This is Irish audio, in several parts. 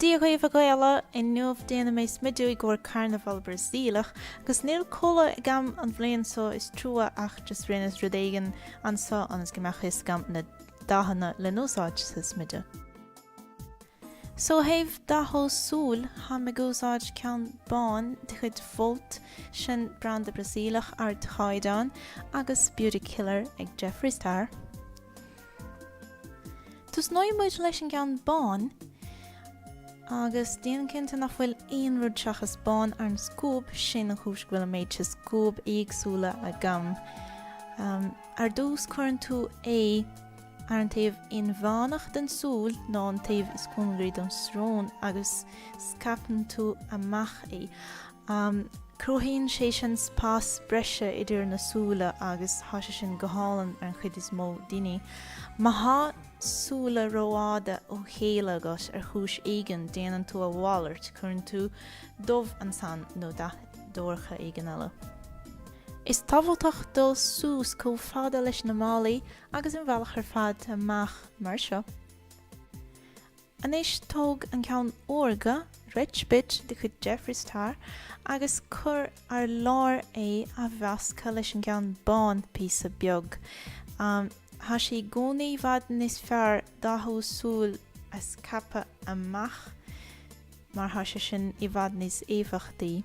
Dia dhaoibh a Ghaela, inniu déanfaidh mé smideadh i gcomhair carnabhal Brasaíleach agus níl culaith agam an bhliain so is trua ach just rinneas rud éigin anso ionas go mbeadh fhios agam na dathanna le n-úsáid sa smideadh. So ó thaobh dathú súil táim ag úsáid ceann bán de chuid Vult, sin branda Brasaíleach ardchaighdeáin, agus Beauty Killer ag Jeffree Star. Tosnóidh muid leis an gceann bán, agus déan cinnte nach bhfuil aon rud seachas bán ar an scuab, sin an chúis go bhfuil an méid seo scuab éagsúla agam. Ar dtús cuireann tú é ar an taobh inmheánach den súil nó an taobh is cóngaraí don srón agus scaipeann tú amach é. Cruthaíonn sé sin spás breise idir na súile agus tá sé sin go hálainn ar an chuid is mó daoine. Má tá súile rófhada ó chéile agat ar chúis éigin, déanann tú a mhalairt, cuireann tú dubh ansan nó dath dorcha éigin eile. Is tábhachtach dul suas chomh fada leis na malaí agus an bealach ar fad amach mar seo. Anois tóg an ceann órga, Rich Bitch, de chuid Jeffree Star agus cuir ar lár é a mheasctha leis an gceann bán, píosa beag. Tá sé i gcónaí i bhfad níos fearr dathú súil a scaipthe amach mar tá sé sin i bhfad níos éifeachtaí.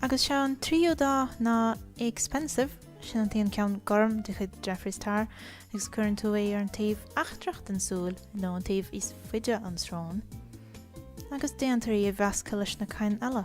Agus is é an tríú dath ná Expensive, sin an t-aon ceann gorm de chuid Jeffree Star agus cuireann tú é ar an taobh eachtrach den tsúil nó an taobh is faide ón srón agus déantar í a mheascadh leis na cinn eile.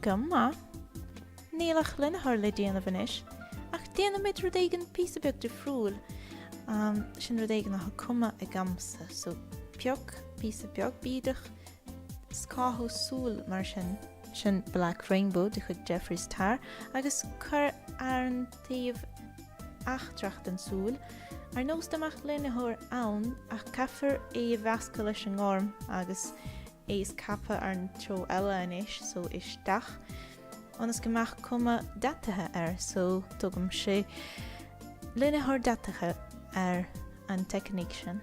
Go maith. Níl ach línitheoir le déanamh anois, ach déanfaimid rud éigin píosa beag difriúil. Um, sin rud éigin atá cumtha agamsa, so pioc píosa beag bídeach, scáthú súl mar sin. Sin Black Rainbow de chuid Jeffree Star agus cuir ar an taobh eachtrach den súil, ar nós dá mbeadh línitheoir ann, ach caithfear é a mheascadh leis an ngorm agus é scaipthe ar an treo eile anois, so isteach, ionas go mbeadh cuma deataithe air, so tugaimse línitheoir deataithe ar an teicníc sin.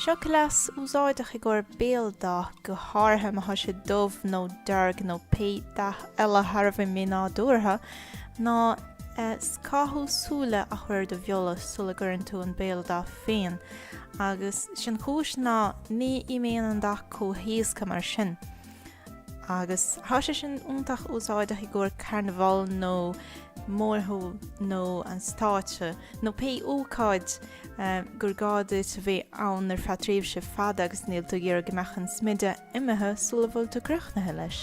Seo cleas úsáideach i gcomhair béal dath, go háirithe má tá sé dubh nó dearg nó pé dath eile thar a bheith mínádúrtha, ná scáth súile a chur ar do bheola sula gcuireann tú an béal dath féin. Agus sin an chúis ná ní imíonn an dath chomh héasca mar sin. Agus thá sé sin iontach úsáideach i gcomhair carnabhal nó mórshiúl nó an stáitse, nó pé ócáid gur gá duit a bheith ann ar feadh tréimhse fada agus níl tú ag iarraidh go mbeadh an smideadh imithe sula bhfuil tú críochnaithe leis.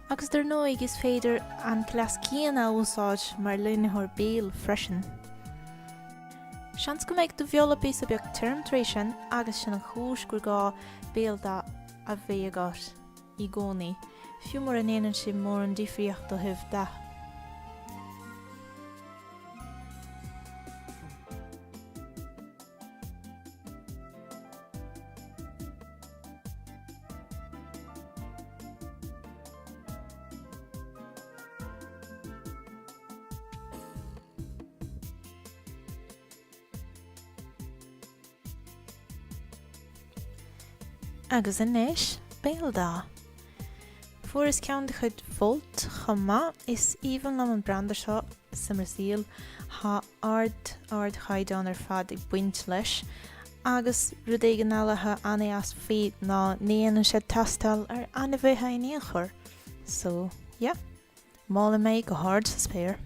Agus dar ndóigh, is féidir an cleas céanna a úsáid mar línitheoir béil freisin. Seans go mbeidh do bheola píosa beag tirim tar éis sin agus sin an chúis gur gá béal dath a bheith agat i gcónaí, fiú mura ndéanann sé mórán difríocht ó thaobh dath. Agus anois, béal dath. Fuaireas ceann de chuid Vult chomh maith, is aoibhinn liom an branda seo sa mBrasaíl. Tá ard, ardchaighdeán ar fad ag baint leis, agus rud éigin eile atá ana-dheas faoi ná ní dhéanann sé tástáil ar ainmhithe in aon chor. So, yeah. Molaim é go hard sa spéir.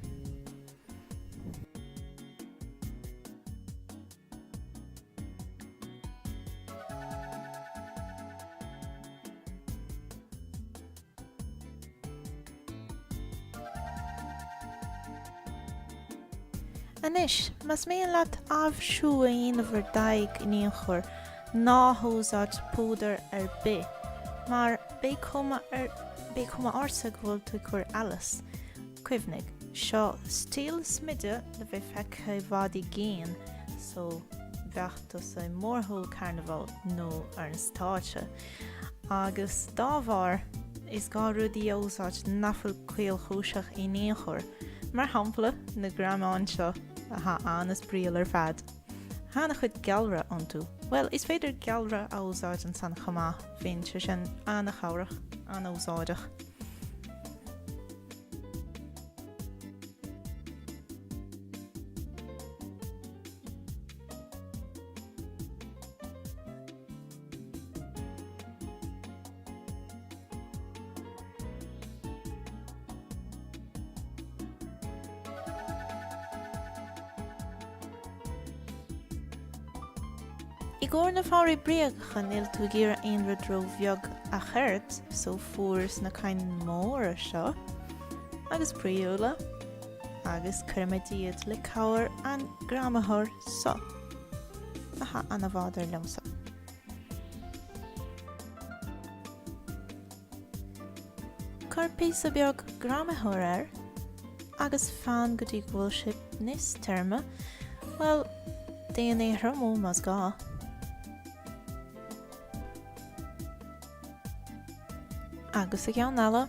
Anois, más mian leat aibhsiú a dhéanamh ar d'aghaidh in aon chor, ná húsáid púdar ar bith, mar beidh cuma ortsa go bhfuil tú ag cur allas. Cuimhnigh, seo stíl smideadh le bheith feicthe i bhfad i gcéin, so bheadh tusa i mórshiúl carnabhail nó ar an stáitse. Agus dá bharr, is gá rudaí a úsáid nach bhfuil caolchúiseach in aon chor, mar shampla na greamáin seo atá anois brí ar fad. Tá an-chuid gealra iontu. Bhuel, is féidir gealra a úsáid ansan chomh maith, bíonn sé sin an-chabhrach, an-úsáideach. I gcomhair na fabhraí bréagacha níl tú ag iarraidh aon rud ró-bheag a chairde so fuaireas na cinn móra seo agus spraíúla agus cuirfimid iad le cabhair an greamaitheoir seo. Atá an-mhaith dar liomsa. Cuir píosa beag greamaitheoir air agus fan go dtí go bhfuil sé níos tirime, bhuel, déan é a thriomú más gá. Agus an ceann eile.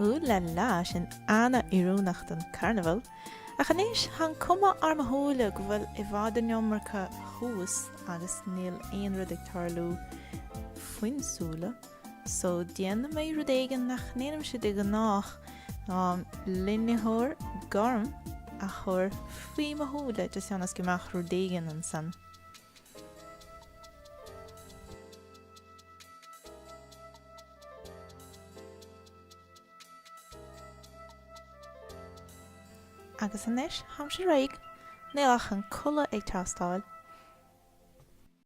Ooh la la, sin ana-oiriúnach don Carnabhal. Ach anois, tá an cuma ar mo shúile go bhfuil i bhfad an iomarca thuas agus níl aon rud ag tarlú faoin súile. So déanfaidh mé rud éigin nach ndéanaimse de ghnáth, ná línitheoir gorm a chur faoi mo shúile just ionas go mbeadh rud éigin ansan. Agus anois, tháimse réidh. Níl ach an culaith ag teastáil.